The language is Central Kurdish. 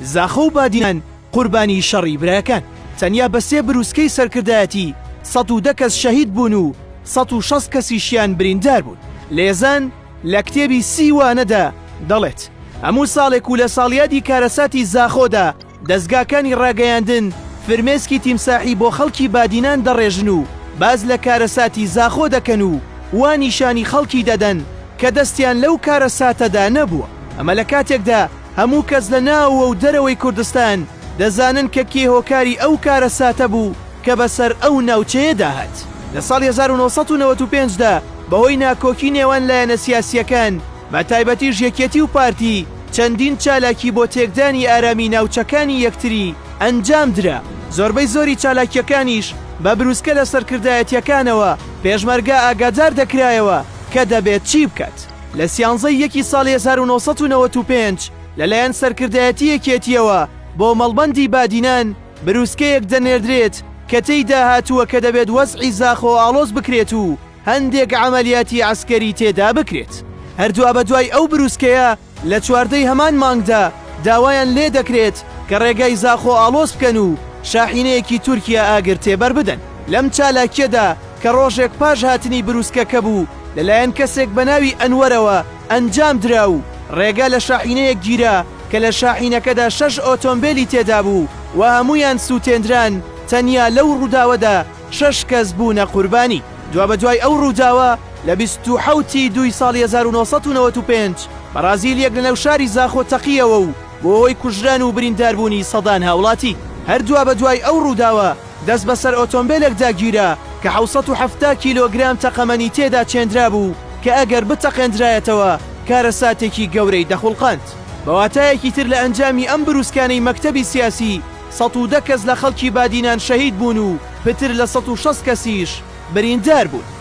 زاخۆ و بادینان قوربانی شەڕی برایەکان، تەنیا بە سێ بروسکەی سەرکردایەتی سەد و دە کەس شەهید بوون و سەد و شەست کەسیشیان بریندار بوون. لێزان لە کتێبی سی وانەدا دەڵێت، هەموو ساڵێک و لە ساڵیادی کارەساتی زاخۆدا دەزگاکانی ڕاگەیاندن فرمێسکی تیمساحی بۆ خەڵکی بادینان دەڕێژن و باس لە کارەساتی زاخۆ دەکەن و وا نیشانی خەڵکی دەدەن کە دەستیان لەو کارەساتەدا نەبووە. ئەمە لە کاتێکدا هەموو کەس لە ناوەوە و دەرەوەی کوردستان دەزانن کە کێ هۆکاری ئەو کارەساتە بوو کە بەسەر ئەو ناوچەیەدا هات لە ساڵی 1995 دا بەهۆی ناکۆکی نێوان لایەنە سیاسییەکان بە تایبەتیش یەکێتی و پارتی چەندین چالاکی بۆ تێکدانی ئارامی ناوچەکانی یەکتری ئەنجام درا زۆربەی زۆری چالاکییەکانیش بە بروسکە لە سەرکردایەتییەکانەوە پێشمەرگە ئاگادار دەکرایەوە کە دەبێت چی بکات. لە سیانزە ی یەکی ساڵی هەزار و نۆ سەد و نەوەد و پێنج لە لایەن سەرکردایەتی یەکێتییەوە بۆ مەڵبەندی بادینان برووسکەیەک دەنێردرێت کە تێیدا هاتووە کە دەبێت وەزعی زاخۆ ئاڵۆز بکرێت و هەندێک عەمەلیاتی عەسکەری تێدا بکرێت. هەر دوابەدوای ئەو برووسکەیە لە چواردە ی هەمان مانگدا داوایان لێ دەکرێت کە ڕێگای زاخۆ ئاڵۆز بکەن و شاحینەیەکی تورکیا ئاگر تێبەر بدەن. لەم چالاکییەدا کە ڕۆژێک پاش هاتنی برووسکەکە بوو، لەلایەن کەسێک بە ناوی ئەنوەرەوە ئەنجام درا و ڕێگە لە شاحینەیەک گیرا کە لە شاحینەکەدا شەش ئۆتۆمبێلی تێدا بوو و هەموویان سووتێندران، تەنیا لەو ڕووداوەدا شەش کەس بوونە قوربانی. دوابەدوای ئەو ڕووداوە، لە بیست و حەوت ی دووی ساڵی هەزار و نۆ سەد و نەوەد و پێنج بەڕازیلییەک لەناو شاری زاخۆ تەقییەوە و بووە هۆی کوژران و برینداربوونی سەدان هاوڵاتی. هەر دوابەدوای ئەو ڕووداوە، دەست بەسەر ئۆتۆمبێلێکدا گیرا کە حەوت سەد و حەفتا کیلۆگرام تەقەمەنی تێدا چێندرابوو کە ئەگەر بتەقێندرایەتەوە کارەساتێکی گەورەی دەخوڵقاند. بە واتایەکی تر لە ئەنجامی ئەم بروسکانەی مەکتەبی سیاسی سەد و دە کەس لە خەڵکی بادینان شەهید بوون و پتر لە سەد و شەست کەسیش بریندار بوون.